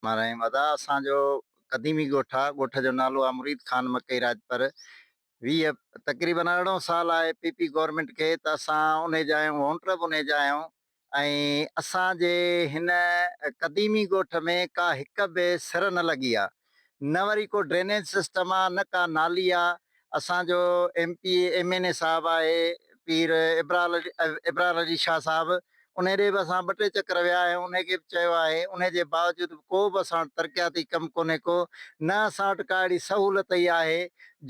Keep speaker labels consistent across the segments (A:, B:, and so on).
A: مان رحيم ادا اسان جو قديمي ڳوٺ آ ڳوٺ جو نالو آ مريد خان مڪئي راڄپر ويهه تقريبن ارڙهون سال آهي پي پي گورنمينٽ کي ته اسان انهي جا آهيون وونٽر به انهي جا آهيون ۽ اسان جي هن قديمي ڳوٺ ۾ ڪا هڪ به سر نه لڳي آ. نه وري ڪو ڊرينيج سسٽم آ نه ڪا نالي آ اسان جو M P A M N A صاحب آهي پير ابرار علي شاهه صاحب انهي ڏي به اسان ٻه ٽي چڪر ويا آهيون انهي کي به چيو آهي انهي جي باوجود به ڪو به اسان وٽ ترقياتي ڪم ڪونهي ڪو نه اسان وٽ ڪا اهڙي سهولت ئي آهي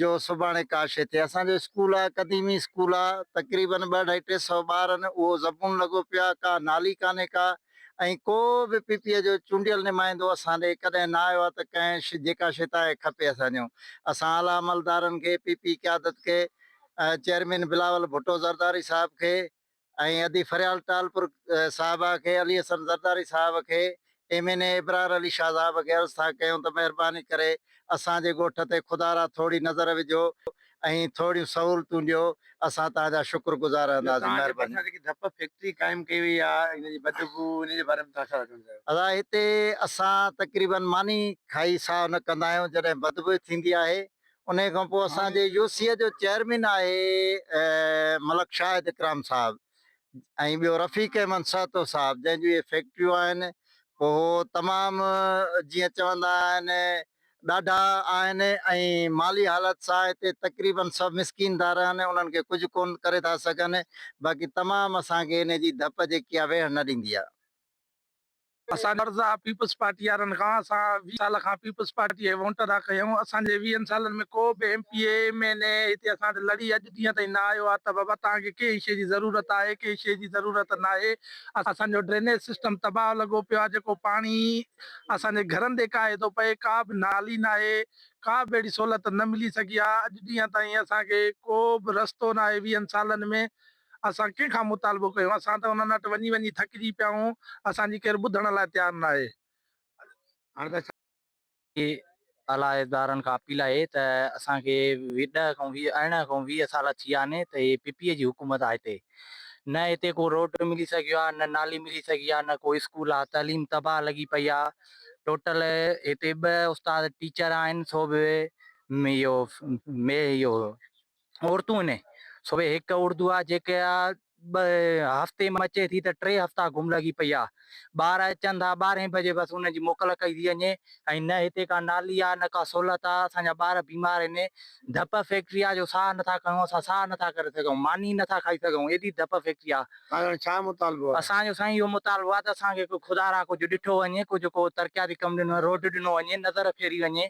A: جو سڀاڻي ڪا شي ٿئي اسان جو اسڪول آ قديمي اسڪول آ تقريبن ٻه اڍائي ٽي سئو ٻار آهن اهو زبون لڳو پيو آ ڪا نالي ڪانهي ڪا ۽ ڪو به پي پي اي جو چونڊيل نمائندو اسان ڏي ڪڏهن نه آيو آهي ته ڪنهن جيڪا شي تهائي کپي اسان ڏيون. اسان اعليٰ عملدارن کي، پي پي قيادت کي، چيئرمين بلاول ڀٽو زرداري صاحب کي ۽ ادي فريال ٽالپر صاحبه کي، علي حسن زرداري صاحب کي، M N A Abrar Ali Shah صاحب کي عرض ٿا ڪيون ته مهرباني ڪري اسان جي ڳوٺ تي خدارا ٿورڙي نظر وجهو ۽ ٿوريون سهولتون ڏيو اسان توهان جا شڪر گذار رهنداسين مهرباني. توهان جي ڀرسان جيڪي ڌپ فيڪٽري قائم
B: ڪئي وئي آ ان جي بدبو ان جي باري ۾ توهان ڇا ٿا چوڻ چاهيو. ادا هتي
A: اسان تقريبن ماني کائي ساهه نه ڪندا آهيون جڏهن بدبوء ٿيندي آهي انهي کان پوء اسان جي يو سي جو چيئرمين آهي ملڪ شاهد اڪرام صاحب ۽ ٻيو رفيق احمد سهتو صاحب جنهن جون اهي فيڪٽريون آهن پوء هو تمام جيئن چوندا آهن ڏاڍا آهن ۽ مالي حالت سان هتي تقريبن سڀ مسڪين ٿا رهن، انهن کي ڪجهه ڪونه ڪري ٿا سگهن، باقي تمام اسان کي ان جي ڌپ جيڪي آهي ويهڻ نه ڏيندي آهي. اسان
B: جو عرض آهي پيپلز پارٽي وارن کان، اسان ويهه سال کان پيپلز پارٽي جي وونٽ ادا ڪئي آهيون، اسان جي ويهن سالن ۾ ڪو به M P A, M N A هتي اسان وٽ لڙي اڄ ڏينهن تائين نه آيو آهي ته بابا توهان کي ڪنهن شيء جي ضرورت آهي، ڪنهن شيء جي ضرورت ناهي، اسان جو ڊرينيج سسٽم تباهه لڳو پيو آهي، جيڪو پاڻي. اسان جي گهرن تي ڪاهي ٿو پئي، ڪا به نالي ناهي، ڪا به اهڙي سهولت نه ملي سگهي آ، اڄ ڏينهن تائين اسان کي ڪو به رستو ناهي، ويهن سالن ۾ اسان ڪنهن کان مطالبو ڪيون، اسان ته انهن وٽ وڃي وڃي ٿڪجي پيا آهون، اسان جي ڪير ٻڌڻ لاء تيار ناهي. علاحدارن
C: کان اپيل آهي ته اسان کي ڏهه کان ويهه ارڙهن کان ويهه سال ٿي ويا آهن ته هي پي پي اي جي حڪومت آهي هتي نه هتي ڪو روڊ ملي سگهيو آهي نه نالي ملي سگهي آهي نه ڪو اسڪول آهي تعليم تباهه لڳي پئي آهي ٽوٽل هتي ٻه استاد ٽيچر آهن سو به اهو مي اهو عورتون هن سوي هڪ اردو آ جيڪا ٻه هفتي م اچي ٿي ته ٽي هفتا گم لڳي پئي آ ٻار اچن ٿا ٻارهين بجي بس انهن جي موڪل ڪئي ٿي وڃي ۽ نه هتي ڪا نالي آ نه ڪا سهولت آ اسان جا ٻار بيمار هن ڌپ فيڪٽري آ جو ساهه نٿا کڻون اسان ساهه نٿا ڪري سگهون ماني نٿا کائي سگهون ايڏي ڌپ فيڪٽري آ توهان جو ڇا مطالبو آ؟
B: اسان جو سائين اهو مطالبو
C: آ ته اسان کي ڪو خدا را ڪجهه ڏٺو وڃي ڪجهه ڪو ترقياتي ڪم ڏنو وڃي روڊ ڏنو وڃي نظر ڦيري وڃي.